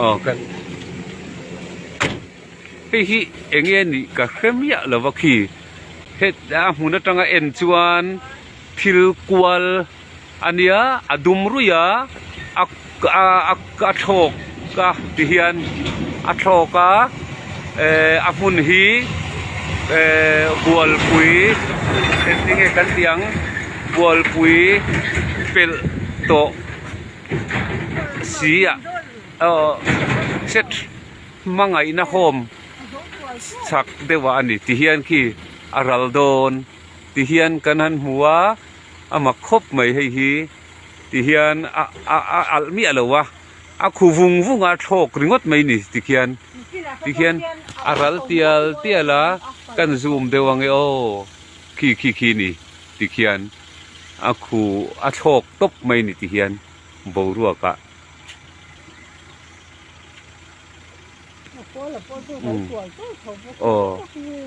Aw ka hei hi eng nge ni ka hre miah lo va khi he a hmun atanga en chuan thil kual-- a nia a dum ruih a a a a a thlawk a ti hian a thlawk a ehh a hmun hi ehh bualpui entinge kan tih ang bualpui pelh tawh si ah aw hret hmangaihna hawm chak deuh ah a ni ti hian khi a ral dawn ti hian kan han hmu a. a mak khawp mai hei hi ti hian a a a alh miah lo a a khu vung vung a thlawk ringawt mai ni ti khian ti khian a ral tial tial a kan zum deuh ang e aw khi khi khi ni ti khian a khu a thlawk tawp mai ni ti hian boruak ah aw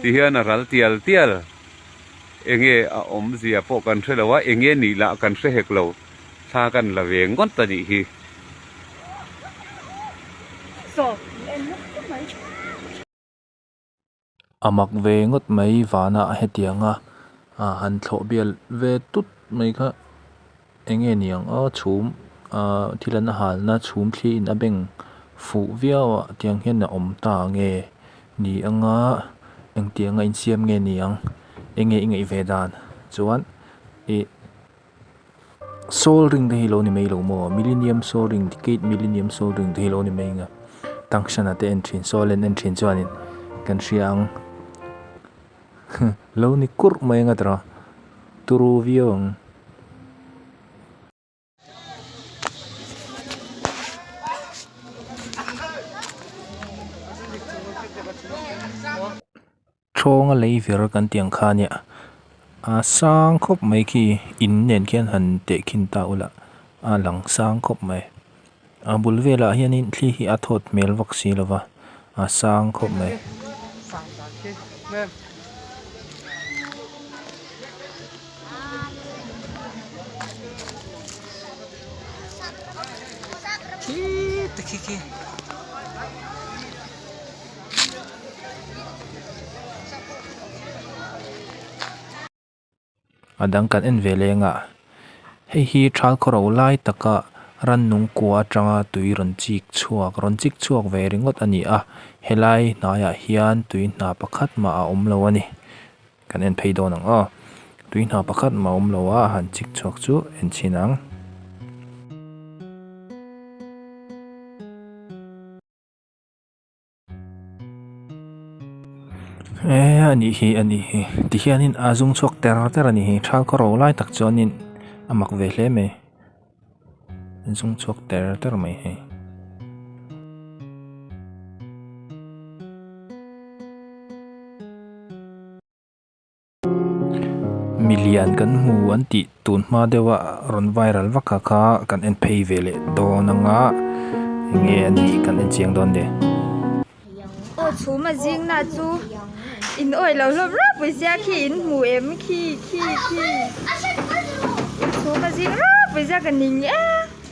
ti hian a ral tial tial. enge a awm zia pawh kan hre lo a enge nih lah kan hre hek lo thla kan la ve ngawt a nih hi. A mak ve ngawt mai vanah hetianga han thlawh bial ve tut mai kha. Enge niang a chhum a thil an halna chhum thli in a beng fuh viau a tiang hian a awm ta nge ni anga engtiang a insiam nge niang enge i ngaih ve dan chuan i sol ring te hi lo ni mai lo maw millennium sol ring decade millennium sol ring te hi lo ni mai nge tangshana te en thin solen en thin chuan in kan hria ang. Huh, lo ni kurh mai ngat rawh. Turu viau ang. Thrawnga lei vir kan tih ang kha nia. Aa sang khawp mai khi in nen khian han teh khin ta ula. Aa lang sang khawp mai. A bul velah hianin thli hi a thawt hmel vak si lova, a sang khawp mai. a dang kan en ve leng a, hei hi thal khaw ro lai taka rannung kua atanga tui rawn chik chhuak rawn chik chhuak ve ringawt a ni a, helai hnaiah hian tui hna pakhat mah a awm lo a ni, kan en phei dawn ang aw, tui hna pakhat mah a awm lo a, a han chik chhuak chu en chhin ang. Eeh anih hi anih hi tihianin a zung chhuak ter ter anih hi thal ka ro lai tak chuanin a mak ve hle mai a zung chhuak ter ter mai hi. Milian kan hmu an tih tun hma deuha rawn viral vaka kha kan en phei ve leh dawn ang a, enge an tih kan en chiang dawn nen. Aw chhuma zingna chu in awih lo hlawm rap mai zia khi in hmu em khi khi khi chhuma zing rap mai zia ka ning e.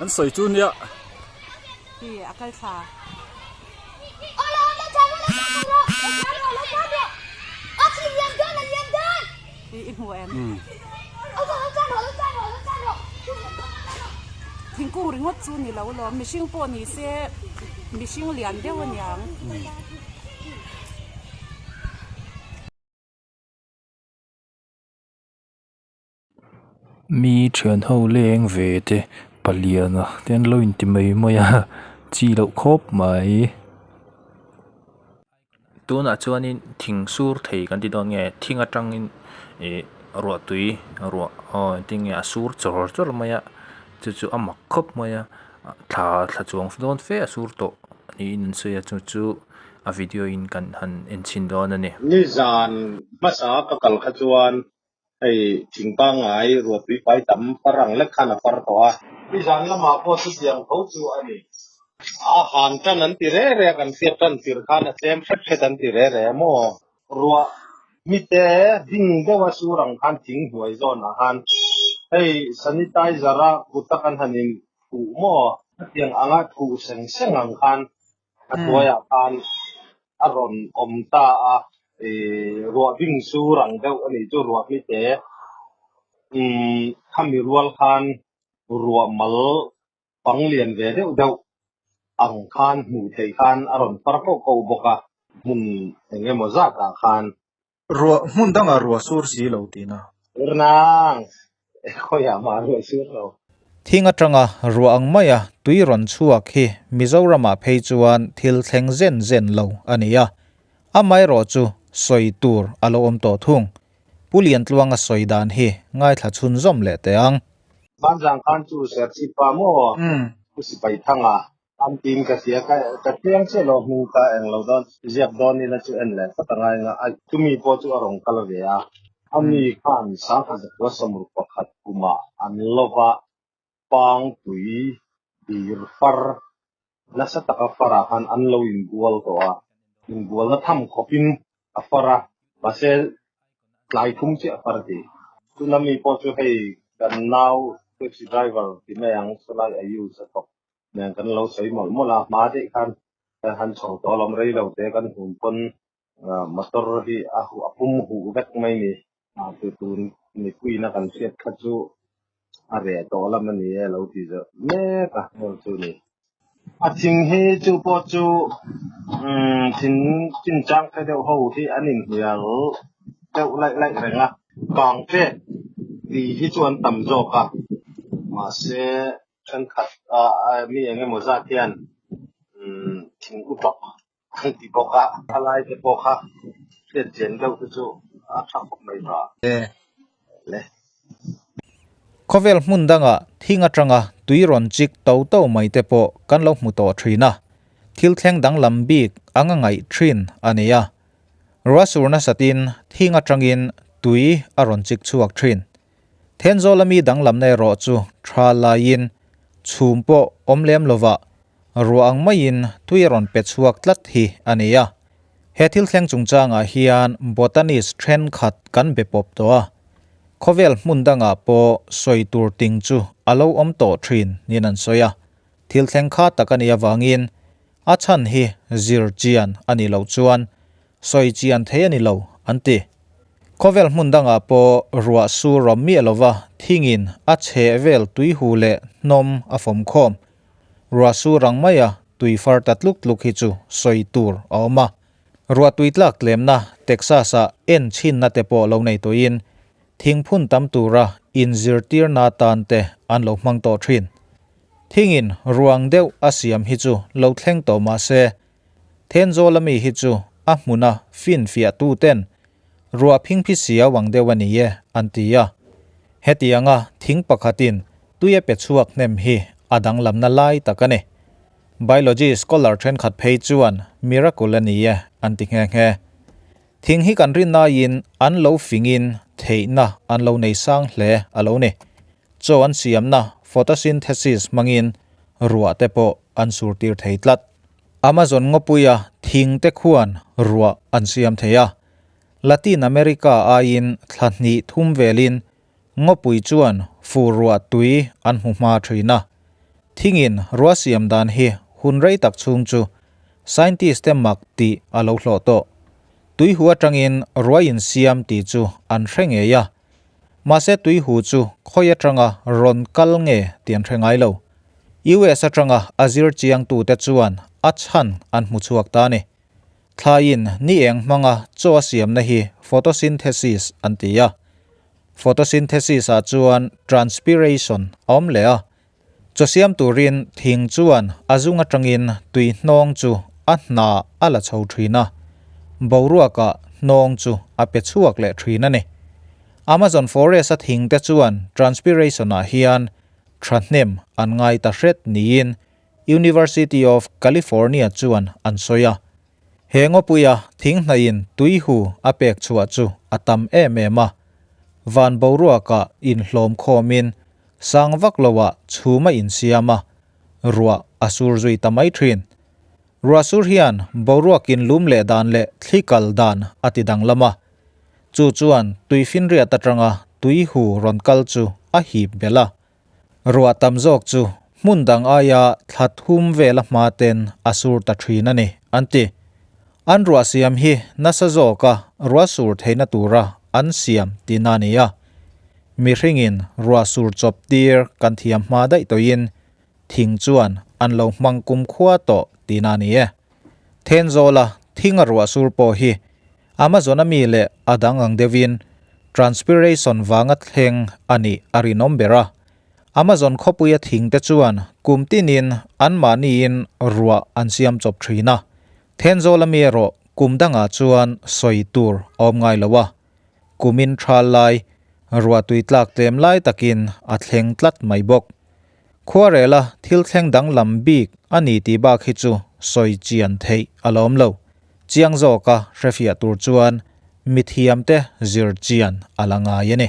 An sawi chu nia. Hi a kal thla. I hmu em? Thingkung ringawt chu ni lo lawm, mihring pawh ni se mihring lian deuh a niang. Mi thian ho leng ve te paliana te an lo in ti mai mai a chi loh khawp mai tunah chuan in thing sur thei kan ti dawn nge thing atang in ih ruah tui ruah aw engtin nge a sur chawrh chawrh mai a chu chu a mak khawp mai a thla thla chuang dawn fe a sur tawh niin an sawi a chu chu a video in kan han en chhin dawn a ni. Nizan hmasa ka kal kha chuan Hei thing pangngai ruatpui pai tam parang lek khan a par tawh a. Mi zan lamah pawh chutiang tho chu a ni. A han tan an ti reh reh a, kan fiat tan tir khan a tlem hret hret an ti reh reh a maw? Ruah mite ding deuha chu rang khan thing hnuai zawn ah khan hei sanitizer a kut a kan han in thuh maw? Hetiang anga thuh seng seng ang khan A hnuaiah khan a rawn awm ta a, Ruahbing chu rang deuh a nih chu Ruahmi te, khami rual khan ruahmal pang lian ve deuh deuh ang khan hmuh theih khan a rawn par ko ko bawk a, hmun eng emaw zat ah khan Ruah, hmun dangah ruah sur si lo ti na. Tirnang, khawi ah mah ruah sur lo. Thing atanga ruah ang maia tui rawn chhuak hi Mizoramah phei chuan thil thleng zen zen lo a ni a, amaherawh chu sawi tur a lo awm tawh thung. Pu Liantluanga sawi dan hi ngaithla chhun zawm leh teh ang. Banzang khan chu Serchhip pa maw Pu Sipaithanga An tiin ka tia ka ka thleng chiah lo hming ka eng lo dawn ziak dawn ila chu en leh phawt anga enga a chumi pawh chu a rawn kal ve a ami khan sangha zakua samur pakhat kumah an lo va pangpui dir far nasa taka farah khan an lo in bual tawh a in bualna tham khawp in a far a mahse tlai thum chiah far ti tuna mi pawh chu hei kan nau taxi driver ti mai ang chu lai a use a tawh nen kan lo sawi mawlh mawlh a hma daih khan han chho tawh lam rei lo te kan hun pawn motor hi a pum huh vek mai ni ah tu tu mipuina kan hriat kha chu a reh tawh lam a ni e lo ti zeuh mek a hmun chu ni a ching hi chu pawh chu thin chin chang phe deuh ho hi an inhnial deuh laih laih reng a kang che ti hi chu an tam zawk a mahse thenkhat a mi eng emaw zat hian thing utlawk an ti bawk a, a lai te pawh kha hriat chian deuh te chu a tha khawp mai va. Khawvel hmun dangah thing atanga tui rawn chik to to mai te pawh kan lo hmu tawh thin a, thil thleng dang lam bik a ngangaih thin a ni a, ruah sur nasat in thing atangin tui a rawn chik chhuak thin. Thenzawl-a mi danglamna erawh chu tha laiin chhum pawh awm lem lovah ruah ang maiin tui a rawn pe chhuak tlat hi a ni a. He thil thleng chungchangah hian Bhutanese thenkhat kan be pawp tawh a, khawvel hmun dangah pawh sawi tur ting chu a lo awm tawh thin niin an sawi a. Thil thleng kha tak a nih avangin a chhan hi zir chian a nih loh chuan Sawi chi an thei a ni lo, an ti. Khawvel hmun dangah pawh ruah su rawm miah lova thingin a chheh vel tuihu leh hnawm a fawm khawm. Ruah su rang maia tui far ta tluk tluk hi chu sawi tur a awm a. Ruah tui tlak tlemna Texas-a en chhinna te pawh lo nei tawhin thing phun tam tura inzirtirna atan te an lo hmang tawh thin. Thingin ruang deuh a siam hi chu lo thleng tawh mah se Thenzawla mi hi chu a hmuna finfiahtu ten ruah phingphi si auang deuh a ni e an ti a. Hetianga thing pakhatin tui a pe chhuak hnem hi a danglamna lai tak a ni. Biology scholar thenkhat phei chuan miracle a ni e an ti nghe nghe. Thing hi kan ri naiin an lo fingin theihna an lo nei sang hle a lo ni. Chaw an siamna photosynthesis hmangin ruah te pawh an sur tir thei tlat. Amazon ngawpuia thing te khuan ruah an siam thei a. Latin America aiin thla hnih thum velin ngawpui chuan fu ruah tui an hmu hma thin a. Thingin ruah siam dan hi hun rei tak chhung chu scientist te mak tih a lo hlawh tawh. Tuihua tangin ruah insiam tih chu an hre ngei a, Mahse tui hu chu khawi atanga rawn kal nge ti an hre ngai lo. US atanga a zir chiangtute chuan a chhan an hmu chhuak ta a ni. Thlaiin ni eng hmanga chaw a siamna hi photosynthesis an ti a. Photosynthesis-ah chuan transpiration a awm leh a, Chawsiam turin thing chuan a zung atangin tui hnawng chu a hna a la chho thin a, boruakah hnawng chu a pe chhuak leh thin a ni. Amazon forest-a thingte chuan transpiration-ah hian thahnem an ngai ta hret niin University of California chuan an sawi a. He Ngawpuia thinghnaihin tuihu a pek chhuah chu a tam em em a, van boruakah inhlawm khawmin sang vak loah chhum a insiam a, ruah a sur zui ta mai thin. Ruah sur hian boruakin lum leh dan leh thli kal dan a ti danglam a, chu chuan tuifinriat atanga tuihu rawn kal chu a hip belh a. Ruah tam zawk chu hmun dang aia thlat hum vel a hma ten a sur ta thin a ni, an ti. An ruah siam hi nasa zawka ruah sur theihna tura an siam tihna a ni a. Mihringin ruah sur chawp tir kan thiam hma daih tawhin thing chuan an lo hmang kum khua tawh tihna a ni e. Thenzawla thinga ruah sur pawh hi Amazon a mi leh a dang ang deuhin transpiration vanga thleng a nih a rinawm ber a. Amazon khawpuia thingte chuan kum tinin anmahniin ruah an siam chawp thin a, Thenzawl a mi erawh kum dangah chuan sawi tur a awm ngai lo a, kumin thal lai, ruah tui tlak tlem lai takin a thleng tlat mai bawk. Khuarela thil thleng danglam bik a ni tih bak hi chu sawi chian theih a lawm lo. Chiang zawk a hrefiah tur chuan mithiam te zir chian a la ngai a ni.